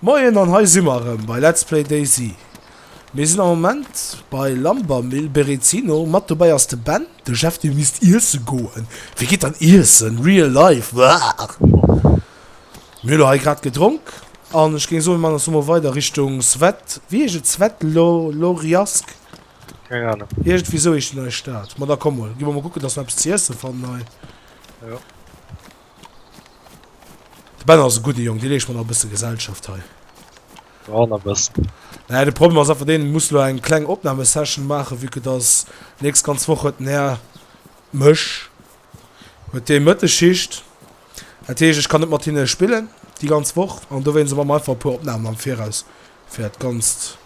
Moien an hei si mer erëm bei Let's Play DayZ. Mir sinn am Moment bei Lambermill Berezino, mat dobäi ass de Ben, de Jeff dee misst iesse goen, wee geet dann iessen, real life, brrr. Mir hu lo hei grad gedronk an ech géing soen mir man eis lo mol weider Richtung Svet, wéi heescht et, Svet Lo Loriask? Keng Ahnung. Iergendwéi sou heescht déi nei Stad. Ma da komm mol, gi mer mol kucken dass mer eppes ze iessen fannen hei. Jo. De Ben ass e gudde Jong, dee leescht mer nach e bësse Gesellschaft hei. Jo, nach e bëssen. Naja, de Problem ass einfach deen, du muss elo eng kleng Opnahmesession maachen, vu que dass nächst ganz Woch huet den Här Mësch huet dee Mëtteschicht. Dat heescht, ech kann net mat hinne spillen déi ganz Woch an dowéinst hu mer einfach e puer Opnahmen am Viraus. fir dat ganzt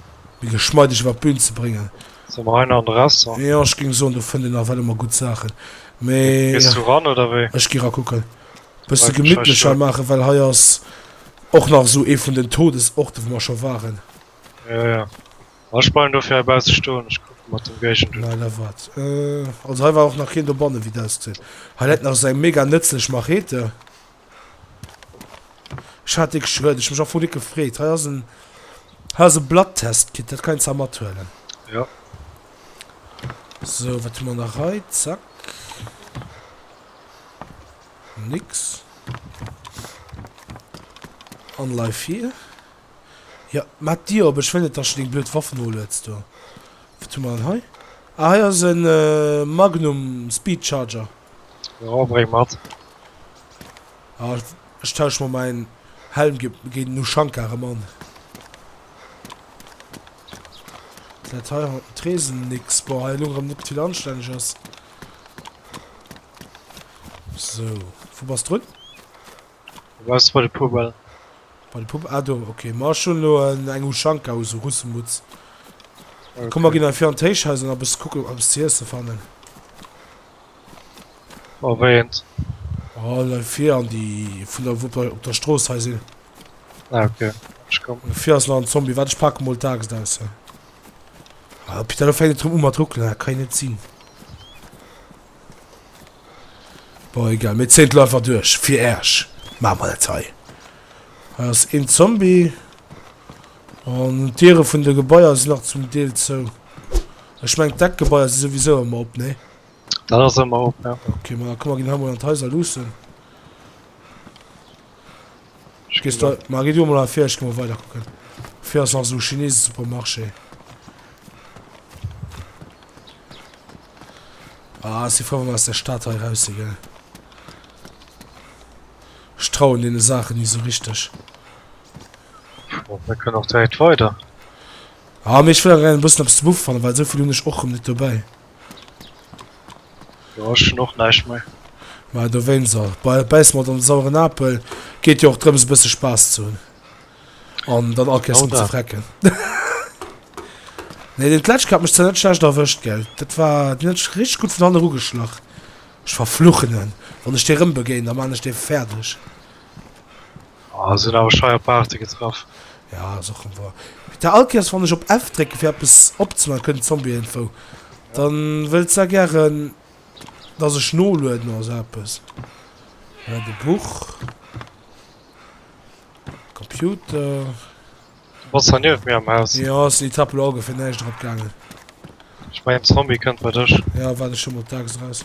méi geschmeideg iwwer d'Bün ze bréngen. Sinn mer hei nach an de Restaurant? Jo, ech géing soen, do fënnt een nach well ëmmer gutt Saachen, mee. Gees du ran, oder wéi? Ech gi rakucken. Bësse gemittlecher maachen, well hei ass och nach esou ee vun den Todesorte, wou mer scho waren. Jo, jo. Ma ech bleiwen dofir hei bausse stoen, ech kucke mat dem Géigend un. Mä da wat? Also hei war och nach keen dobanne, wéi et ausgesäit. Hei läit nach esou eng mega nëtzlech Machete. Ech hat dee geschwënn, ech hu mech am Fong net gefreet. Hei ass en, hei ass e Blatttestkit, dat kann een zwar mathuelen. Jo. Sou, wat hu mer nach hei? Zack. Nix. An leif hir. Jo, mat d'Dier op, ech wëll net, dass du deng blöd Waff nolueds do. Wat hu mer dann hei? Ah, hei ass e Magnum Speed Charger. Jo bréng mat. Ah ech tauschen mol mein Helm géint den Ushanka erem an. Dat hei hat den Tresen nix. Boah hei elo erem net vill anstänneges. Sou wou bass drun? Du bass bei de Poubelle. Bei de Poubelle ah do ok. Ma ech hun elo eng Ushanka u sou Russemutz. Komm mer gin hei vir an d'Héichhaus an eppes kucken ob ech eppes ze iessen fannen. Oh wéi een. Oh leif fir an déi vun der Wupp op der Strooss hei sinn. Ah, okay. Ech komm. Fir ass nach en Zombie, wat ech pake mol d'Axt aus hei. Ah, Peter, lo fänkt et rëm u mat ruckelen, dat kann jo net sinn. Bon, egal, mir zéint lo einfach duerch, fir Äersch. Maache mer dat hei. Hei ass een Zombie. An d'Diere vun de Gebaier sinn nach zum Deel zou. Ech mengen, d'Eckgebaier si souwisou ëmmer op, nee? Dat ass ëmmer op, ja. Okay, ma da komm, mer ginn hei mol an d'Haiser luussen. Gees du, ma gi du emol ervir, ech gi mol weiderkucken. Fir ass nach esou Chinese-Supermarché. Ah, ech si frou, wa mer aus der Stad hei raus si, gell. Ech trauen deene Saachen ni esou richteg. Oh, wir können auch direkt weiter. Ah, mir schwören rein, wussten ob es zu Buff fannen, weil so viel hun ich och net dabei. Ja, ich schon och neisch mei. Ma du wein se bei beiß mat an sauren Apel geht jo och drëms bësse Spaß zu hunn. An dann akees oh, ze frecken. nee den Kletsch hat mech ze net schlecht erwëscht gell. Dat war net rich gut vun an rugeschlach. Ech verfluchenen wann ech dir rëm begéint, da man ech de fertigerdeg. Oh, sinn awer schei op Arte getraff. Ja ass och rem woer. Peter Alkiers, wann ech op F drécken fir eppes opzemaachen kënnt Zombie Info. Dann wëllt se gären dass ech nolueden oder sou eppes. Hei de Buch. Computer. Du bas hei niewent mir am Haus. Jo ass den Etapp elo ongeféier näischt drop gaangen. Ech mengen Zombie kënnt bei dech. Jo, waarde ech hu mol d'Axt eraus.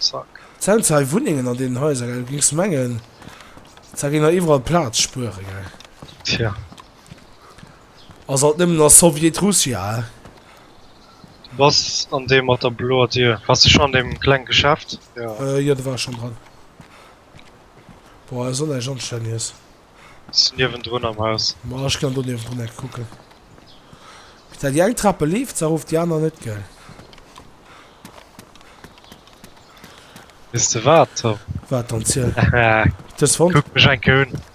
Zack. Zell zei Wunnengen an deenen Haiser gell, du gings mengen da géing nach iwwerall Plaatz spueren gell. Tja. Ass alt nemmen a Soviet Russia he. Du bass an deem mat der bloer Dier? Bass de schon an deem klengen Geschäft? Jo. Jo, do war ech schon dran. Boah, Sonn esch anstännies. Ass niewendrun am Haus. Ma ech kann doniewendrun net kucken. Bis dat déi eng Trape leeft, se erof, déi aner net, gell? Weess de wat, Tom? Wat dann, ziel. Dës fonnt? Kuck mech eng Kéier un.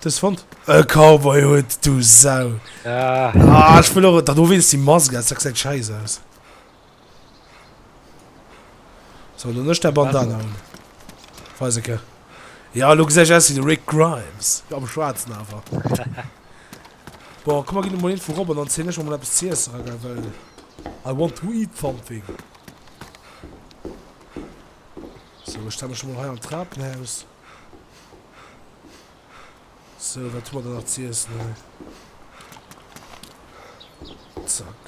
Dës fonnt? E Cowboyhutt, du Sau! Ah, ech wëll och, da do wéinst déi Mask aus, dat gesäit schäiss aus. So dann ech der Bandana un. Weiseke. Ja lo gesäit ech aus wéi de Rick Grimes. Am Schwaarzen awer. Bon, komm mer ginn emol een vu Robben an zéien ech mer mol eppes ze iesse ra gell well I want to eat something. So ech stelle mech emol hei an d'Trapenhaus. Sou, wat hu mer da nach z'iessen hei? Zack.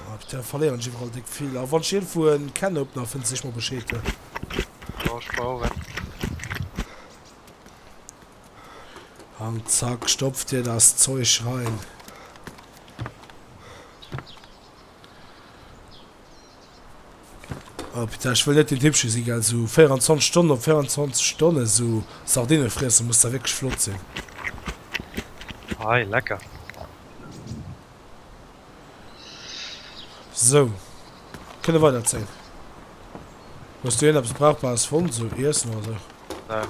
Ah putain, verléieren ech iwwerall déck vill. A wann ech iergendwou en Can Opener fënn, sech mer Bescheed he. Jo, ech brauch en. An zack, stopf dir daat Zeuch rein. Oh putain, ech wëll net deen Typ scho si gell, sou 24 Stonnen op 24 Stonnen sou Sardinen friessen muss da wierklech flott sinn. Hei, lecker. So, kënne weider zéien. Hues du ierneps brauchbares fonnt, sou Iessen oder sou? Nö,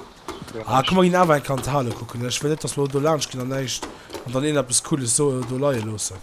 guer Ah, komm, mer ginn awer eng Kanthalle kucken. Ech wëll net, dass mer elo do laanscht ginn an näischt an dann ierneps Cooles so do leie loossen.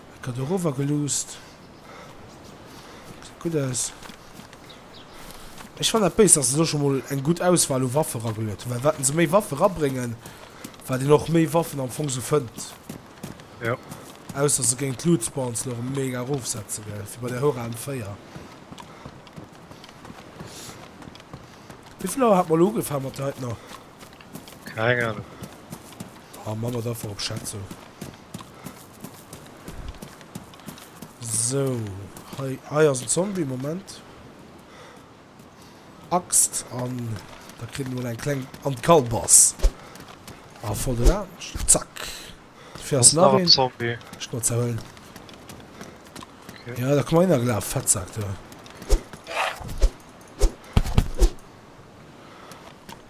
Et gëtt erower geluusst. Geet gutt aus. Ech fannen dat béis, dass se do scho mol eng gutt Auswahl u Waffe ragelluet hunn, well wat se méi Waffe rabréngen, wat een och méi Waffen am Fong sou fënnt. Jo. Ausser se géing d'Loot-Spawns elo erëm mega erofsetze gell, wéi bei der Hora M4. Wéivill Auer hat mer elo ugefaang mat der heitener? Keng Ahnung. Ah, man et einfach op Schätzung. Sou, hei, hei ass en Zombie, Moment. Axt, an da kritt en mol eng kleng an d'Kalbass. A voll den Aarsch. Zack. Fir ass nach een. Zombie. Schnotzer hëllen. Okay. Ja, da komm mal hinnergelaf, Fettsack, du.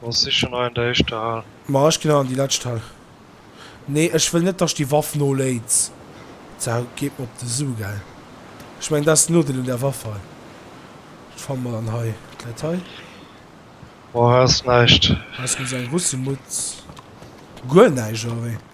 Ass si schon hei an der éischter Hal? Ma ech ginn dann an déi lescht Hal. Nee, ech wëll net, datt déi Waff noléit. D'Sau geet mer op de Su, gell? Ech mengen, dat ass den Nodeel un där Waff hei. Wat fanne mer dann hei? Dat läit hei. Boah, ass näischt. Ass guer sou eng Russemutz. Guer näischt, oder wéi?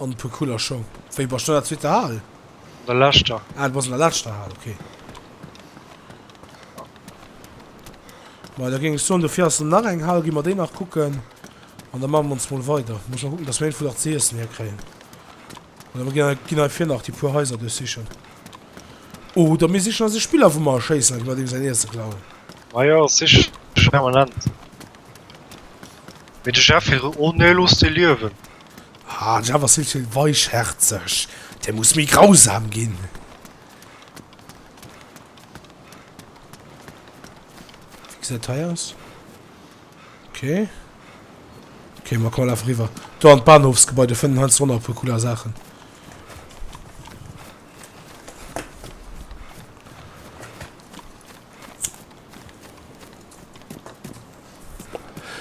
An e puer cooler Schong. Wéi bass du an der zweeter Hal? An der leschter. Ah, du bass an der leschter Hal, ok. Majo, da géing ech soen, dofir ass nach eng Hal, gi mer déi nach kucken an da maache mer ons mol weider. Muss mol kucken, dass mer iergendwou nach ze iessen hierkréien. Oder mer ginn, ginn heifir nach déi puer Haiser duerchsichen. Oder mir sichen eis e Spiller, wou mer erschéissen a gi mer deem säin Iesse klauen. Majo, siche permanent. Mee de Jeff, hire. Oh, nee, looss dee liewen. Ah, den Java ass vill ze weichhärzeg. Dee muss méi grausam ginn. Wie gesäit hei aus? Okay. Okay, ma komm, laf riwwer. Do an d'Bahnhofsgebäi, do fënnen heiansdo nach e puer cooler Saachen.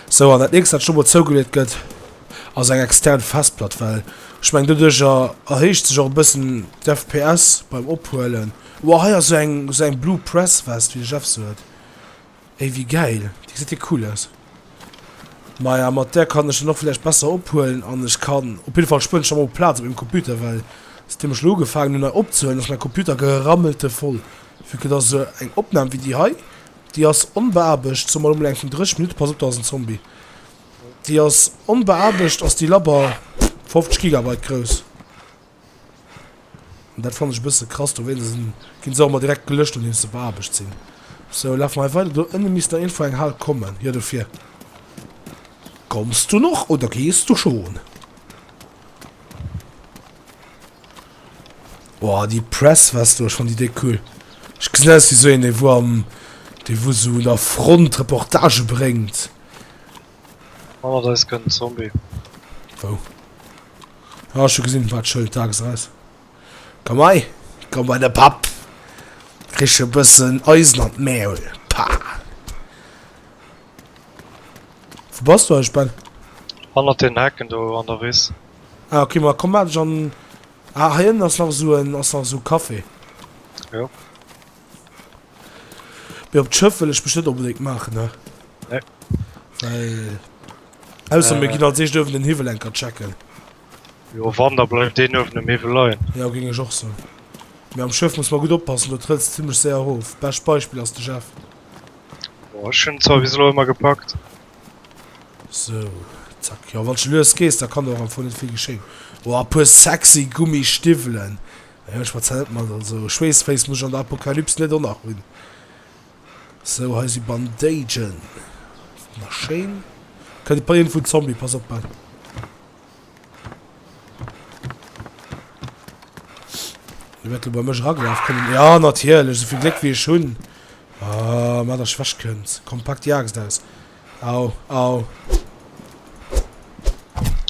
Sou, an dat nächst wat elo mol zougeleet gëtt ass eng extern Festplatt, well ech mengen doduerch erhéicht sech och e bëssen d'FPS beim ophuelen. Wow hei ass sou eng sou eng blue press Vest wéi de Jeff se huet. Ey wéi gäil, déi gesäit jo cool aus. Maja mat där kann ech dann och vläicht besser ophuelen an ech kann op jidde Fall spueren ech dann och Plaz op mengem Computer, well säitdeem ech elo ugefaangen hunn hei opzehuelen ass mäi Computer gerammelte voll, vu que et ass sou eng Opnam wéi déi hei Déi ass onbeaarbecht, soumat emol eng Kéng 30 Minutten, pass op do ass en Zombie. Déi ass onbeaarbecht, ass déi labber, 50 Gigabyte grouss. An dat fann ech e bësse krass, dowéinst sinn ginn se och ëmmer direkt gelëscht nodeems se beaarbecht sinn. Sou, lafe mer hei weider, do ënne misst nach iergendwou eng Hal kommen, jo dofir. Kommst du noch oder gees du schon? Boah déi Press west do schon déi déck cool. Ech gesinn aus wéi sou een dee wou am dee wou sou un der Front Reportage bréngt. Manner da ass gëtt en Zombie. Wou? Ah ech hu gesinn wat Schëld daags aus. Komm hei komm bei de Papp. Krich e bëssen Eisen an d'Mäul. Pah. Wou bass du eigentlech Ben? Hannert den Hecken do an der Wiss. Ah ok ma komm maat ech an. Ah hei ënnen ass nach esou en ass nach esou Café. Jo. Mee op d'Schëff wëll ech mech net onbedéngt maachen ne. Nee. Well ausser mir ginn als eischt uewen den Hiwwel eng Kéier checken. Jo wann da bleift deen uewen um Hiwwel leien. Jo géing ech och soen. Mee am Schëff muss mer gutt oppassen do trëlls de zimmlech séier erof. Bescht Beispill ass de Jeff. Boah, ech hunn zwar bis elo ëmmer gepackt. Sou, zack. Jo, wann s de lues gees, da kann do och am Fong net vill geschéien. Oh, a puer sexy Gummistiwwelen. Naja, ech schwätzen net mat. Also, Schweessféiss muss ech an der Apokalyps net och nach hunn. Sou, hei si Bandagen. Schéin. Kënnt e Paien vun Zombie, pass op, Ben. Wie wat lo bei mech eragelaf kënnt? Ja, natierlech, esou vill Gléck wéi ech hunn. Ah, mat der Schwäch kënnt. Komm, pak déi Aaxt aus. Au, au.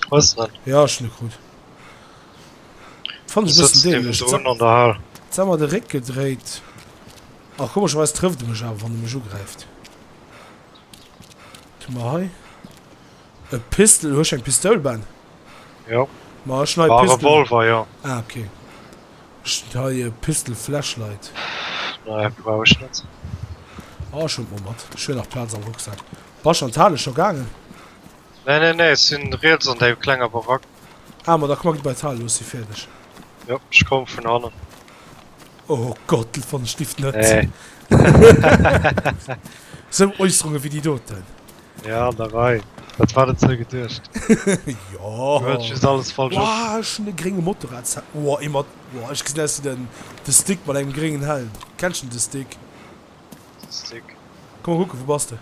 Was denn? Ja, ech hunn e krut. Fand ech e bëssen dämlech. Jetzt hat mer de Réck gedréit. Ach, komescherweis trëfft e mech awer, wann e mech ugräift. Wat hu mer hei? E Pistol, hues eng Pistoul, Ben? Jo. Ma ech hun hei Pistol. Ah, Revolver, jo. Ah, ok. Ech hun hei e Pistol Flashlight. Nee, brauch ech net. Ah, ech hun et mol mat. Ech hun nach Plaz am Rucksack. Basch an d'Hale scho gaangen? Nee, nee, nee, ech si riets an déi klenger Barack. Ah, ma da komm, gitt bei d'Hale, lo si fäerdeg. Jo, ech komm vun hannen. Oh Gott, dat fand ech lift net. Nee. Sou Äusserungen wéi déi doten. Ja, an der Rei. Wat war dat sou geduecht? Jo. Du hëls just alles falsch op. Wouah, ech hunn e grénge Motorradshelm. Wouah, ee mat, wouah, ech gesinn aus wéi den, de Stick mat engem gréngen Helm. Kenns de de Stick? De Stick. Komm mol kucken, wou bass de?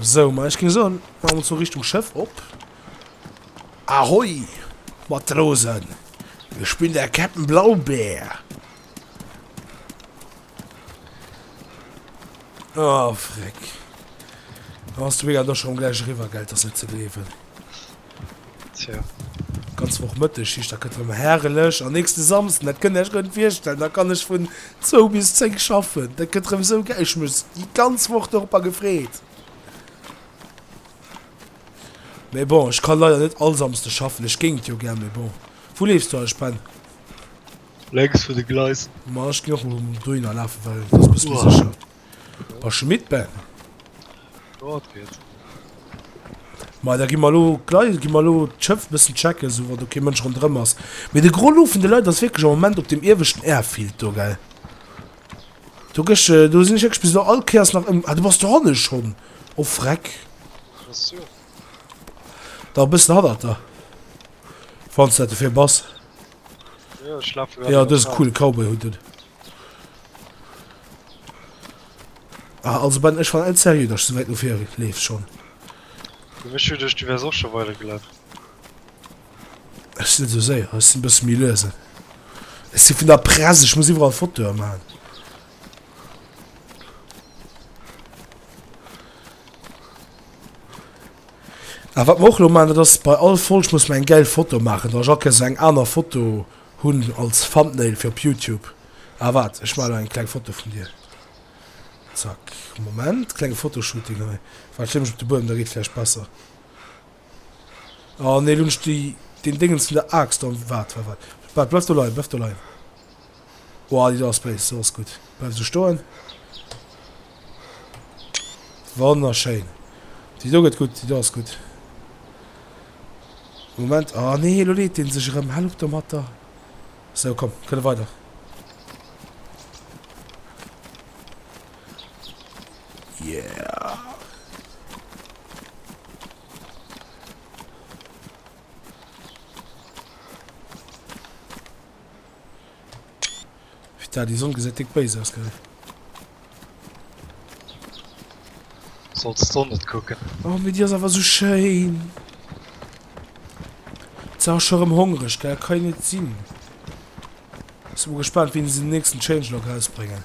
Sou, ma ech géing soen, maache mer ons elo Richtung Schëff op. Ahoi, Matrosen! Ech bin der Käpt'n Blaubär! Oh, Freck. Ass de Mega do schonn gläich eriwwer, gell? 't ass net ze gleewen. Tja. Ganz Woch Mëtteg, heescht dat gëtt erëm herrlech. An nächste Samsden, dat kënnt Dir Iech guer net virstellen, da kann ech vun zwou bis zéng schaffen. Dat gëtt erëm esou gäi, ech hu mech déi ganz Woch dorobber gefreet. Mee bon, ech ka leider net all Samsde schaffen, ech géing et jo gär, mee bon. Wou leefs du eigentlech, Ben? Lenks vun de Gleisen. Ma ech ginn och elo dohinner lafen, well et ass e bësse méi sécher. A Schmitt Ben. Jo, et geet. Mei, da gi mer elo gleich, gi mer elo d'Schëff bëssen checken, esou wann do kee Mënsch ronderëm ass. Mee de gros Lot vun de Leit ass wierklech am Moment op deem ieweschten Airfield do, gell? Do gësch, do sinn ech wierklech bis elo all Kéiers nach ëm. Ah, du bass dohanne schonn. Oh freck. Ech sou. Da e bëssen hannert der, wann s de dat dofir bass. Jo, ech lafe grad. Jo, dëse coole Cowboy-Hutt un. Ah, also Ben, ech war net serieux, dass du sou wäit no vir leefs schonn. Ech hu geduecht, du wäers och scho weider gelaf. Ech sinn net sou séier, ech sinn e bësse méi luese. Ech si vun der Press, ech muss iwwerall Fotoe maachen. A wat mer och elo maachen, dat ass, bei all Folg muss mer eng gäil Foto maachen. Da Jacques, esou eng aner Foto Hun als Thumbnail fir op Youtube. Ah waart ech man eng kleng Foto vun dir. Zack Moment klenge Fotoshooting hei. Waart stell mech op de Buedem da geet vläicht besser. Oh nee lo hun ech déi den Déngens vun der Aaxt an. Waart waart waart waart bleif do leien bleif do leien. Woah déi do ass béis. Sou ass gutt bleif esou stoen. Wonnerschéin. Déi do gëtt gutt, déi do ass gutt. Moment, ah nee, elo leet dee sech erëm. Hal op domatter. Sou, komm, kënne weider. Yeah. Putain, déi Sonn gesäit déck béis aus, gell? Solls d'Sonn net kucken. Oh, mee déi ass awer esou schéin! Ze ass scho rem hongreg, gell? Kann jo net sinn. Sinn mol gespaant, wéini se den nächsten Changelog rausbréngen.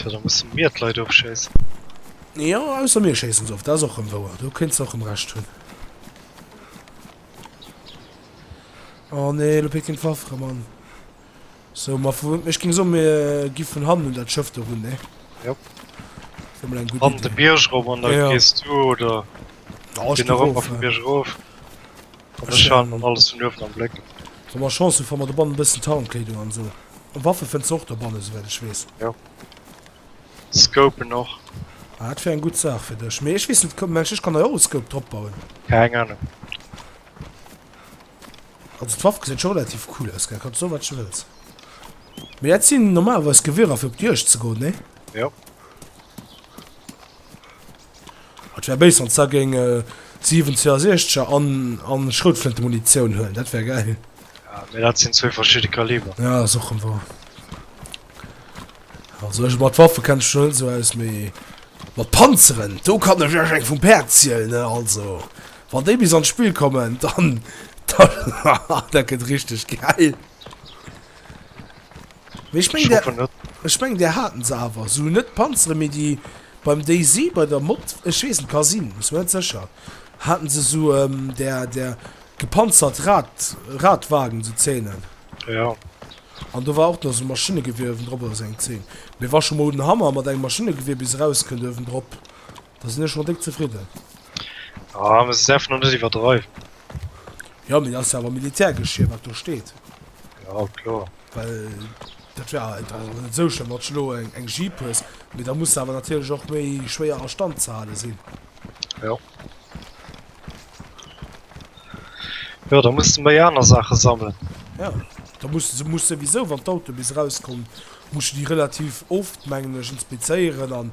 Jo da musse mir d'Leit ofschéissen. Jo, ausser mir schéissen se of, dat ass och rëm wouer, do kéints de och rëm Recht hunn. Oh nee, lo pikt hien d'Waff erëm an. Sou, ma vu, ech géing soen, mir gi vun hannen un dat Schëff do run, nee? Jo. Dat wier mol eng gutt Iddi. An de Bierg erëm an da gees du oder. Jo, ech gi erof, ja. Ech halen dann alles vun uewen am Bléck. Wa mer Chance hunn, fanne mer dobannen e bëssen Tarnkleedung an esou. Waffe fënns de och dobannen, esouwäit ech weess. Jo. Scoupen och. Ah, dat wär eng gutt Saach fir dech. Mee ech weess net, mengs ech kann hei och e Scope dropbauen? Keng Anung. Also d'Waff gesäit scho relativ cool aus, gell? Kanns soen, wat de wëlls. Mee dat sinn normalerweis Gewierer, fir op d'Juegd ze goen, nee? Jo. Et wär béis wann da géing 7 62er an an Schroutflinte Munitioun huelen, dat wär gäil. Ah mee dat sinn zwee verschidde Kaliber. Ja ass och rem war. Also ech mat Waffe kenn ech net esou aus mee mat Panzeren do kann ech lech eng vum Päerd zielen ne also wann déi bis an d'Spill kommen dann dann dat gëtt richteg gäil. Mee ech meng der ech meng der haten se awer sou net Panzeren mee déi beim DayZ bei der Mod ech weess net ka sinn muss mer net sécher haten se sou em der der gepanzert Rad Radwagen sou Zänen. Jo. An do war och nach sou Maschinnegewier ewendrop oder sou eng Zeen mee war scho mol den Hammer mat engem Maschinnegewier bis erauskënnt ewendrop Da sinn ech scho déck zefridden. Ah, muss es einfach nur net iwwerdreiwen. Ja, mee dat ass jo awer Militärgeschir, wat do steet. Ja, kloer. Well dat wär halt och net esou schlëmm, wann s de elo eng, eng Jeep hues. Mee da muss se awer natierlech och méi schwéier a Stand ze hale sinn. Ja. Ja, da muss de méi aner Saache sammeln. Ja. Da muss du se muss souwisou, wann d'Auto bis erauskommen, muss du déi relativ oft, mengen ech, inspizéieren an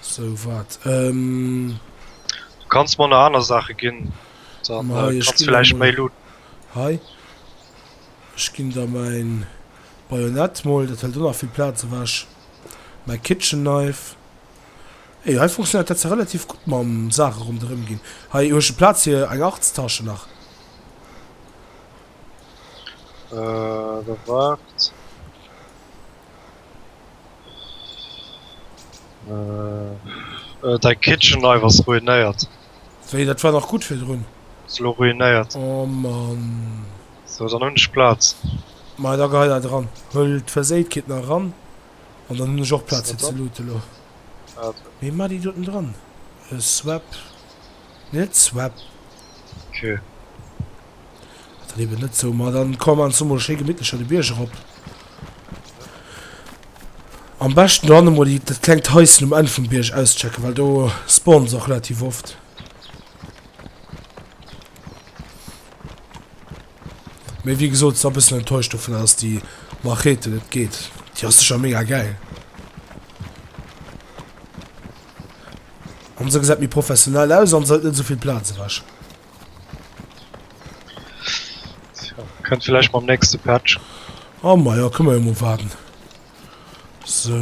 Sou wat ehm. Du kanns mer nach aner Saache ginn, dann kanns du vläicht méi looten. Hei, ech ginn der mäin Bajonett mol, dat hëlt och nach vill Plaz ewech, mäi Kitchen Knife. Ey, hei funktionéiert dat zwar relativ gutt mam Saache ronderëm ginn. Hei hu ech e Plaz fir eng Arzttasche nach. Äh, da waart. Äh, äh, däi Kitchen Knife ass ruinéiert. Wéi, dat war dach gutt virdrun? Ass elo ruinéiert. Oh Mann. Sou, dann hunn ech Plaz. Ma da gehei dat eran. Huel d'Verséitkeet nach eran. An dann hunn ech och Plaz fir ze looten elo. Mee ma déi doten dran. Swap. Net swap. Ok. Ass dann eben net sou. Ma dann komm an zumol schéi gemittlecher de Bierg erop. Am beschten do hannen mol déi dat klengt Haischen um Enn vum Bierg auschecken, well do spawnen se och relativ oft. Mee wéi gesot, ass e bëssen enttäuscht dovun, dass déi Machete net geet. Déi ass sécher mega gäil. An se gesäit méi professionell aus an se hëlt net esou vill Plaz ewech. Kënnt vielleicht mam nächste Patch. Oh ma ja, kënne mer jo mol waarden. So.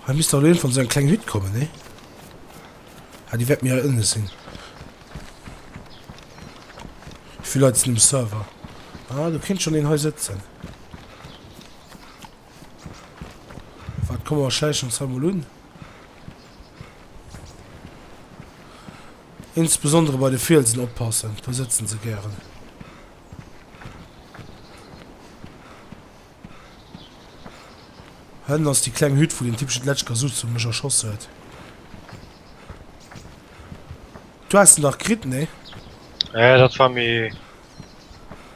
Hei misst da lo eent vun esou eng kleng Hütt kommen, nee? Ah, déi wäert méi hei ënne sinn. Wéivill Leit sinn um Server? Ah, do kéint schonn een hei sëtzen. Waart, komme mer schläichen ons hei mol un. Insbesondere bei de Fielsen oppassen, do sëtzen se gären. Hënn ass déi kleng Hütt, wou den typesche Dletschka Suzu mech erschoss huet. Du has en dach kritt, nee? Ja, dat war méi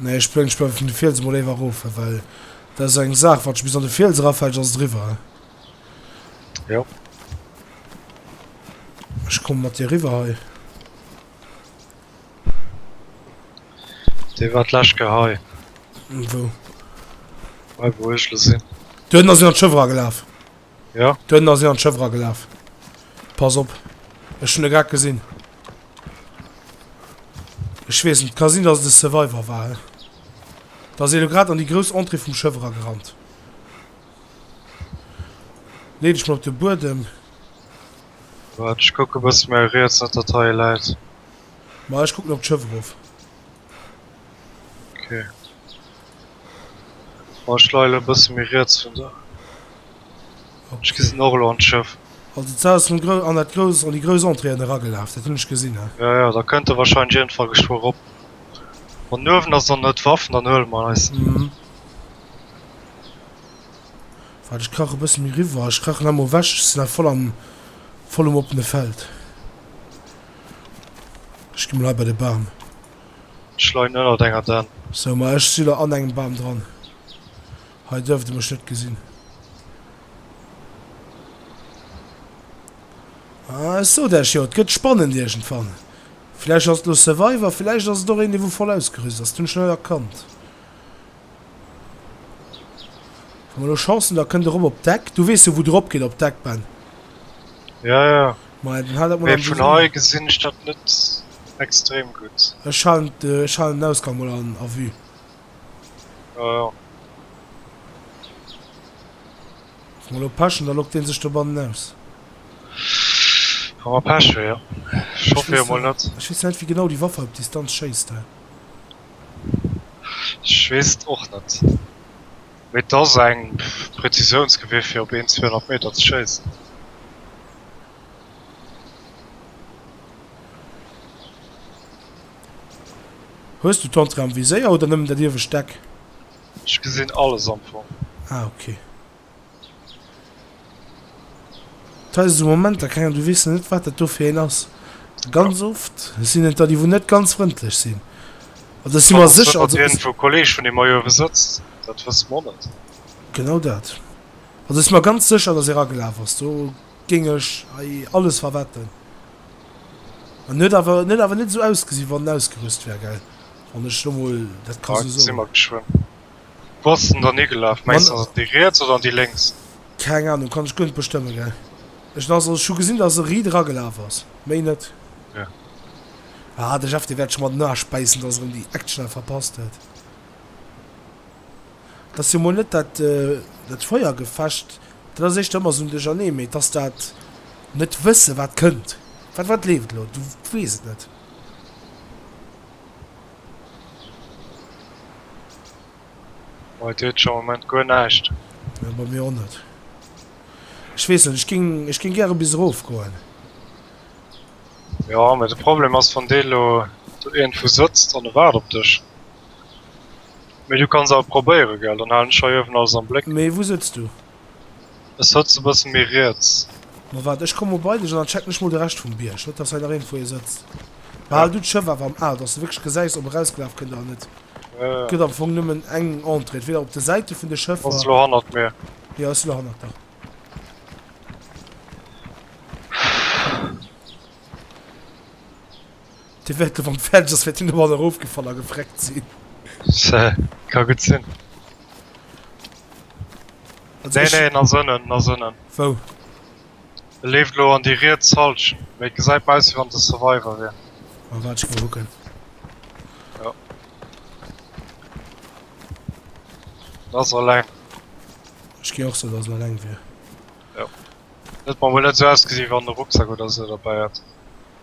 Nee ech plëng ech bei vun de Fiels emol éiwer rof well dat ass eng Saach wat bis an de Fiels erafällt ass driwwer. Jo. Ech komme mat dir riwwer hei. Dee wat lech gehei. Wou? Hei wou ech lo sinn. Duerno sinn an d'Schëffer agelaf. Jo. D'Hënn ass hien an d'Schëff eragelaf. Pass op. Ech hunn e grad gesinn. Ech weess net. Ka sinn, dass et e Survivor war, he? Da ass hie elo grad an déi grouss Entrée vum Schëff eragerannt. Lee dech mol op de Buedem. Waart, ech kucken e bësse méi riets, net datt hei e läit. Ma ech kucken op d'Schëff erof. Okay. Oh, ich leile ein bisschen mehr rechts von da. Okay. Ich gesehen auch noch ein Schiff. Also, du hast an, an, dat groß, an die große Entrée hergelaufen, das habe ich gesehen. He? Ja, ja, da könnte wahrscheinlich irgendwann geschwor rob. Und nur wenn das dann nicht Waffen, dann hören wir es. Mhm. Warte, ich krache ein bisschen mehr rüber. Ich krache nochmal weg. Ich bin voll am, voll am offenen Feld. Ech gi mol hei bei de Bam. Ech leien ënnert enger Dann. Sou, ma ech si lo an engem Bam dran. Hei duerft e mech net gesinn. Ah, ech sot iech jo, et gëtt spannend iergendwann. Villäicht ass et lo Survivor, villäicht ass et och een, dee wou voll ausgerüst ass. Dat hunn ech net erkannt. Hu mer elo Chancen, da kënnt e rëm op Deck. Du weess jo, wou de ropgeet op Deck, Ben. Ja, ja. Maja, dann hal dat mol am Visier. Mee vun hei gesinn ech dat net extrem gutt. Ech halen den Ausgang mol an a Vue. Jo, jo. Wa mer elo Pech hunn, da loggt dee sech dobannen aus. Wa mer Pech hu, jo. Ech hoffe jo mol net. Ech weess nach net, wéi genau déi Waffe op Distanz schéisst hei. Ech weess et och net, mee et ass eng Prezisiounsgewehr fir op een 200 Meter ze schéissen. Hues du d'Entrée am Viséier oder nëmmen dat iewescht Deck? Ech gesinn alles am Fong. Ah ok. D'Hais esou Momenter kréien, du weess net wat dat do fir een ass. Ganz oft sinn et der déi wou net ganz frëndlech sinn. Oder ech si mer sécher also. Wann iergendwou e Kolleeg vun deem hei uewe sëtzt, dat wësse mer net. Genau dat. Also ech si mer ganz sécher datt e ragelaf ass, do géing ech hei alles verwetten. En huet awer, en huet awer net esou ausgesi wann en ausgerüst wär, gell, wann ech lo mol dat ka esou soen. Gesi mer geschwënn. Wou ass en dann higelaf? Mengs ass et déi riets oder déi lénks? Keng Anung, kann ech guer net bestëmmen gell. Ech ass ech hu gesinn dass e ri dra gelaf ass, méi net. Ja. Ah de Jeff dee wärt scho mat den Aesch bäissen dass erem déi Action hei verpasst huet. Et ass jo mol net dat dat Feuergefecht, dat ass éischter ëmmer esou Duerchernee, mee et ass dat net wësse wat kënnt. Wat wat leeft elo? Du weess et net. Bei dir huet am Moment guer näischt. Nee, bei mir och net. Ech weess net, ech géing, ech géing gäre bis erof goen. Jo, mee de Problem ass, wann dee lo do iergendwou sëtzt an e waart op dech. Mee du kanns awer probéieren, gell? Dann halen ech heiuewen alles am Bléck. Mee wou sëtzt du? Ech sotzen bessen méi riets. Ma waart, ech kommen mol bei dech an dann checken ech mol de Rescht vum Bierg, net dass hei nach iergendwou ee sëtzt. Behal du d'Schëff awer am Ae, dass de wierklech gesäis ob e rausgelaf kënnt oder net. Et gëtt am Fong nëmmen eng Entrée, entweder op de Säite vun de Schëffer. Ass elo hannert mir. Jo, ass elo hannert der. Dee wäert elo wann et fäerdeg ass wäert deen domadder erofgefall a gefreckt sinn. Se ka gutt sinn. Also Nee, ech, nee, en ass ënnen, en ass ënnen. wou? E leeft elo an déi riets Halschen. Mee et gesäit mer aus wéi wann e Survivor wier. Ah, waart, ech go mol kucken. En ass eleng. Ech gi och soen dass en eleng wier. Et huet mer mol net esou ausgesi wéi wann en e Rucksack oder esou derbäi hätt.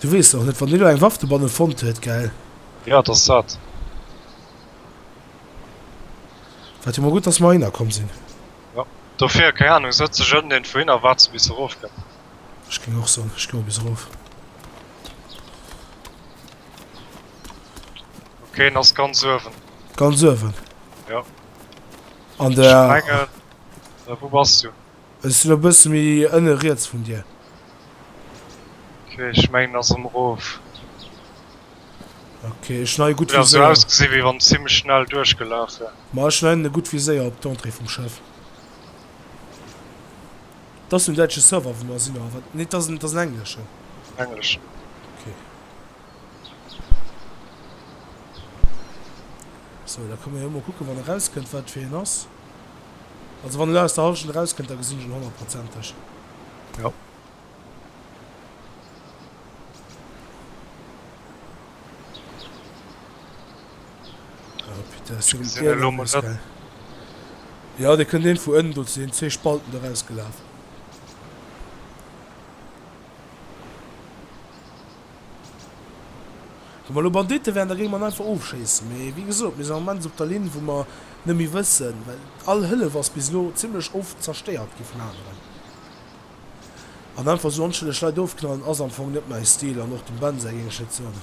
Du wees och net wann deen lo eng Waff dobannen fonnt huet, gell? Jo et ass dat. Wat jo mol gudd dass mer heihinner komm sin. Jo dofir, keng Ahnung, sot sech ënnen deen wohin a waart se bis se erof kënnt. Ech ging och soen ech gi mol bis erof. Ok en ass ganz uewen. Ganz uewen? Jo. An der. Ech mengen, wou bass du? Ech sinn e bësse méi ënne riets vun dir. Ok, ech mengen en ass emerof. Ok, ech hun hei e gutt Viséier. Huet awer sou ausgesi wéi wann en zimlech schnell duerchgelaf wär. Ma ech hun hei en e gutt Viséier op d'Entrée vum Schëff. Dat ass den däitsche Server wou mer sinn oder wat? Nee dat ass en engleschen. Engleschen. Ok. Sou da komme mir emol kucken wann e rauskënnt wat fir een ass. Also wann elo aus der Halschent eraus kënnt, da gesinn ech en honnertprozenteg, jo. Ah putain, ass jo en Ärgernis, gell. Jo, dee kënnt een vu ënnen do, sinn zwee Spalten do rausgelaf. Wa mer elo Banditten wären, da géing mer en einfach ofschéissen. Mee wéi gesot, mir sinn am Moment esou op der Linn, wou mer net méi wëssen, well all Hëllef ass bis elo zimlech oft zerstéiert gi vun aneren. An einfach esou onschëlleg Leit ofknallen ass am Fong net mäi Stil. An och dem Ben säi géing ech net soen.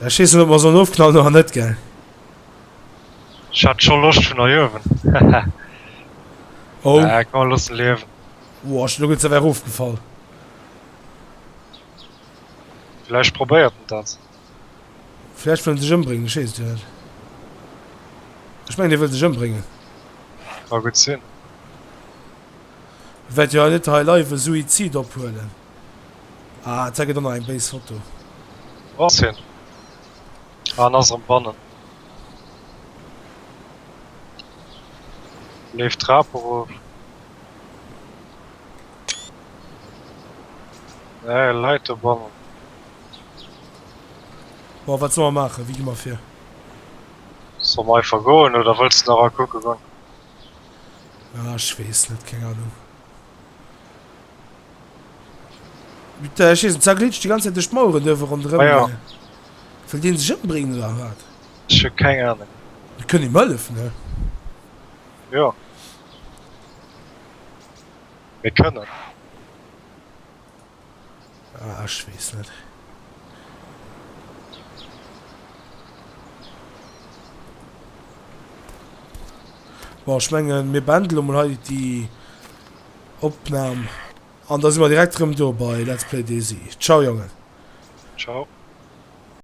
Sa schiessen op mer soll ofknallen oder net gell. Ech hat scho Loscht vun erjuewen hehe oh ja, kann man lossen liewen. Boah, lo gëtt awer erofgefall. Vläicht probéiert en dat. Vläicht wëll en sech ëmbréngen, ech weess et jo net. Ech mengen, hie wëll sech ëmbréngen. Ka gutt sinn. Wäert jo hei net hei live e Suizid ophuelen. Ah, et gëtt och nach eng béis Foto. Wou ass hien? Ah, en ass erëm bannen. En leeft d'Trap erof. Nee, e läit dobannen. Bon, wat solle mer maachen? Wéi gi mer vir? Solle mer einfach goen oder wëlls de nach a kucke goen? Ah, ech weess net. Keng Anung. Äh, ech wees net, zerglitscht déi ganz Zäit duerch d'Maueren duerf e ronderëm. Ah ja. Wëll deen sech ëmbréngen oder wat? Ech hu keng Ahnung. Mir kënnen him hëllefen, ne? Jo. Mir kënnen. Ah, ech weess net. Bon, ech mengen, mir beenden elo mol hei déi Opnam. An da si mer direkt erëm do bei Let's Play DayZ. Ciao, Jongen. Ciao.